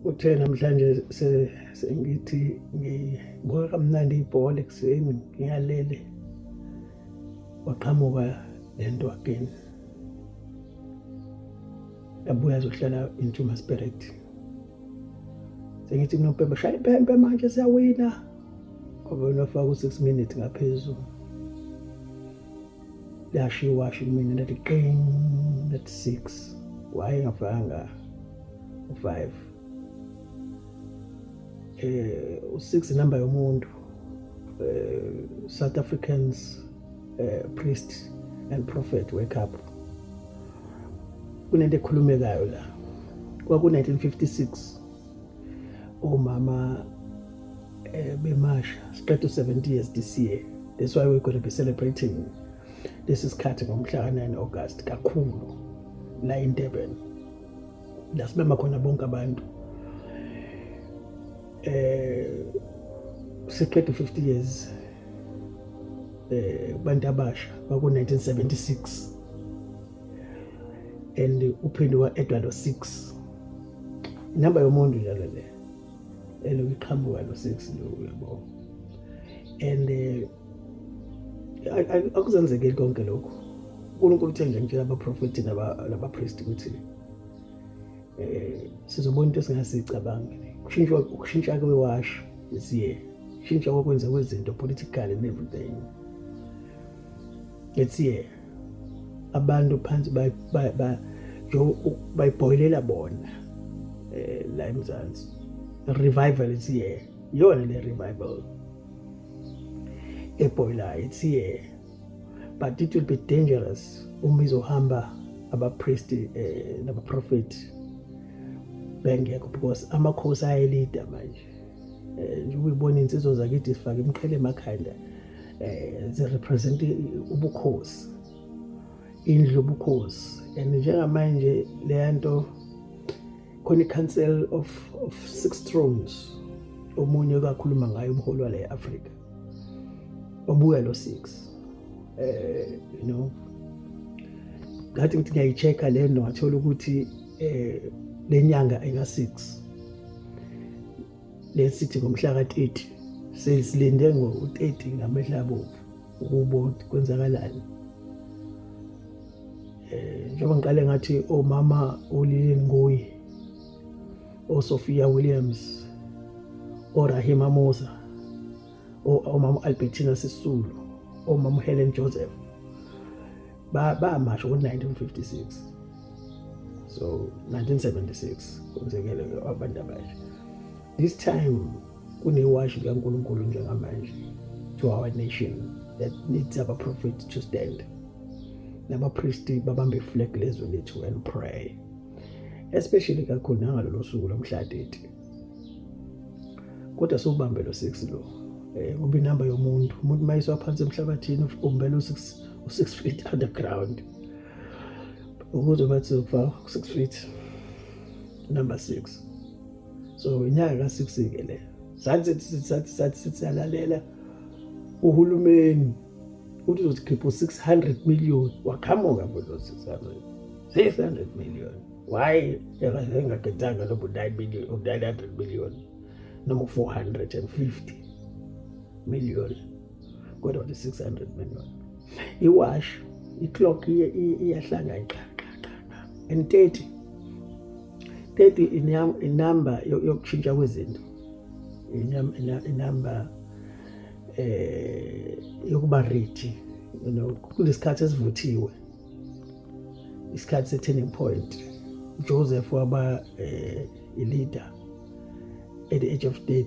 uthe namhlanje sengithi ngibuka kamnandi ibhola ekuseni ngiyalele waqhamuka le nto again yabuya azohlala intuma spirit sengithi kunopembe shaya impempe manje siyawina ngoba unofaka u-six minutes ngaphezulu Lashiwa shi kumina ndathi qing ndathi six why ngafanga u-five eh u-six inamba yomuntu eh, South Africans eh, priest and prophet wake up kunento ekhulumekayo la kwaku-1956 Umama eh, bemasha siqeda u-70 years this year. That's why we're going to be celebrating this is sikhathi ngomhla ka-9 August kakhulu la eDurban. La sibema khona bonke abantu. Eh siqeda 50 years eh kubantu abasha baku 1976 and uphinde wa-edwa lo six inamba yomuntu njalo le eloku iqhamuka lo six lo uyabo and eh, akuzenzekeli konke lokhu unkulunkulu uthe nje ngitshela abaprofethi nabapristi ukuthi um sizobona into esingasicabangi kushintshwa ukushintsha kwewashi this year shintsha kwakwenza kwezinto politically and everything let's year abantu phansi bayibhoyilela bona eh, la emzansi revival it's here iyona le revival ebhoyilayo it's here but it will be dangerous uma izohamba abapristi eh, nabaprofethi bengekho because amakhosi ayelida manje eh, njengoba ibona insizwa zakithi sifake imqhele emakhanda um zirepresente ubukhosi indlu ubukhosi and njengamanje leya nto khona i-council of, of six thrones omunye kakhuluma ngayo umholi wale afrika obuya lo six um you know ngathi ngithi ngiyayi-check-a le nto ngathola ukuthi eh lenyanga eka 6 lesithi ngomhla ka 30 sesilinde ngo 30 ngamehla abovu ukubo kwenzakalani eh njengoba ngiqale ngathi omama olile ngoyi oSophia Williams oRahima Musa omama Albertina Sisulu omama Helen Joseph bamasha ngo-1956 so 1976 kwenzekele abantu abasha this time kunewashi likankulunkulu njengamanje to our nation that needs our prophet to stand nabapristi babambe iflag lezwe lethu and pray especially kakhulu nangalolo suku lomhla 30 kodwa siwubambe lo 6 lo um ngoba inamba yomuntu umuntu uma yiswa phansi emhlabathini ubumbela u-6 u-six feet underground ukuze bathi zokufa u-six feet number six so inyanga ka-six-ke le sathi sathi sathi sithi siyalalela uhulumeni uthi uzokhipha u-six hundred million waqhamuka futhi o-six hundred six hundred million why engagethanga lobu nine million u-nine hundred million noma u-four hundred and fifty million kodwa the 600 million iwash iclock iyahlanga iqaqaqaqa and 30 30 inamba yokushintsha kwezinto inamba eh yokuba ready you know kulesikhathi esivuthiwe isikhathi se-turning point joseph waba um eh, i-leader at the age of 30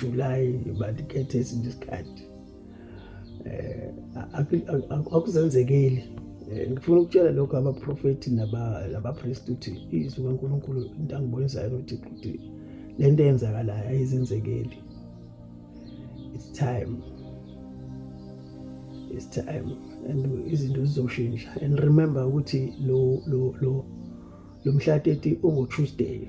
July bandikhethe esinye isikhathi eh akuzenzekeli eh, ngifuna ukutshela lokho abaprofeti nabapriest ukuthi izwi kaNkuluNkulu into angibonisayo ukuthi ukuthi lento eyenzakalayo ayizenzekeli it's time it's time and izinto zizoshintsha and remember ukuthi lo lo lo lomhlateti ungo Tuesday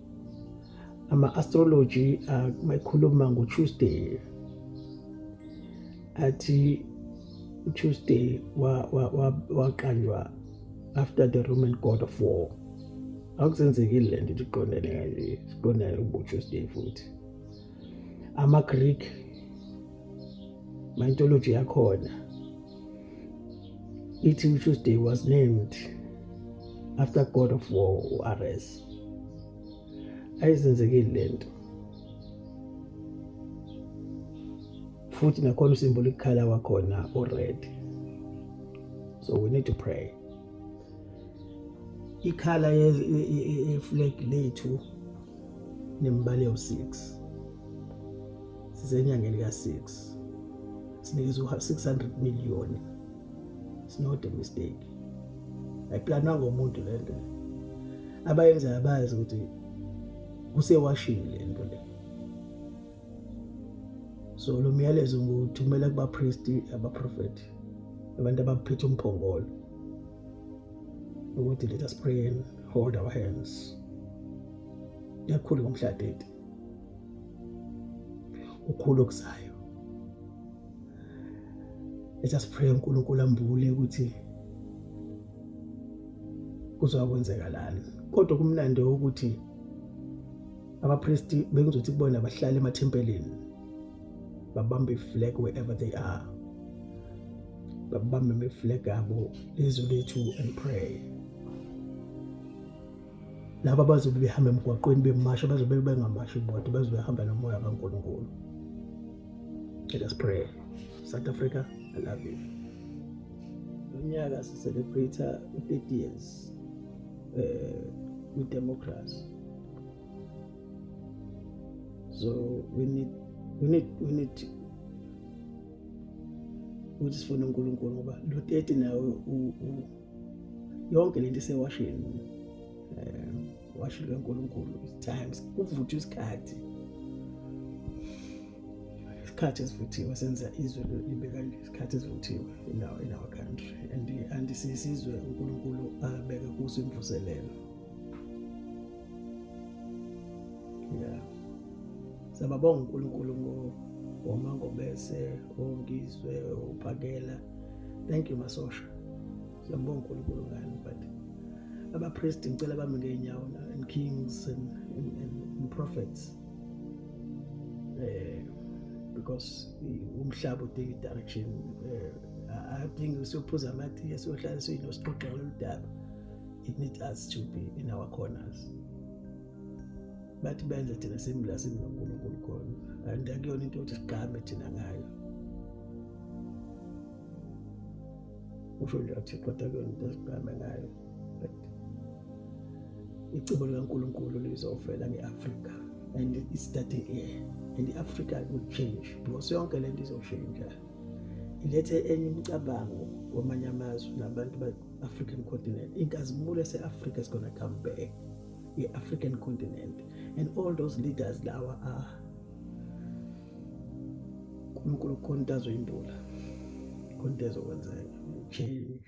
ama-astrology mayikhuluma ngo-tuesday athi utuesday waqanjwa wa, wa after the roman god of war akusenzekile le nto iqondene kanje siqondane ubutuesday futhi ama-greek mythology yakhona ithi utuesday was named after god of war u-ares ayizenzekile lento futhi nakhona usimbula ikukhala wakhona ured so we need to pray ikhala yeflag lethu nembali yawu-6 sisenyangeni ka-6 sinikezwa u-600 million it's not a mistake ayiplanwa ngomuntu le nto abayenzayo bazi ukuthi kusewashini le nto le so lo myalezo nguthumela kubapristi abaprofethi abantu abaphethe umphongolo ukuthi let us pray and hold our hands yakhulu ngomhlatete ukhulu okuzayo let us pray uNkulunkulu ambule ukuthi kuzokwenzeka lani kodwa kumnandi ukuthi abapristi bengizothi kubona bahlale emathempelini babambe iflag wherever they are babambe iflag abo lizwe lethu and pray laba bazobe behamba emgwaqweni bemasha bazobe bengamashi bodwa bazobe behamba nomoya kaNkulunkulu let us pray South Africa I love you unyaka si celebrate 30 years eh with democracy so we need we need we need ukuthi sifune uNkulunkulu ngoba lo 30 nawe u yonke lento isewashini um washini kankulunkulu times kuvuthwa isikhathi isikhathi esivuthiwe senza izwe libe kanje isikhathi esivuthiwe in our, in our country and and sisizwe uNkulunkulu abeke kuso imvuselelo yeah sababonga uNkulunkulu ngo womangobese ongizwe uphakela thank you masosha siyambonga uNkulunkulu ngani but abapriest ngicela bami ngeenyawo and kings and, and, and, and prophets eh because umhlaba udinga i-direction eh, adingi siyophuza amathi esiyohlala siyinosixoxa lolu daba it needs us to be in our corners bathi benze thina simla simnonkulunkulu khona and akuyona into yokuthi sigqame thina ngayo usho nje athi kodwa kuyona into esigqame ngayo but icebo likankulunkulu lizofela nge-afrika and it's starting here and i-afrika will change because yonke le nto izoshintsha ilethe enye imicabango kwamanye amazwe nabantu ba-african continent inkazimulo ese-afrika is gonna come back ye-african continent and all those leaders lawa a ah, unkulunkulu khona into azoyimbula khona into ezokwenzeka change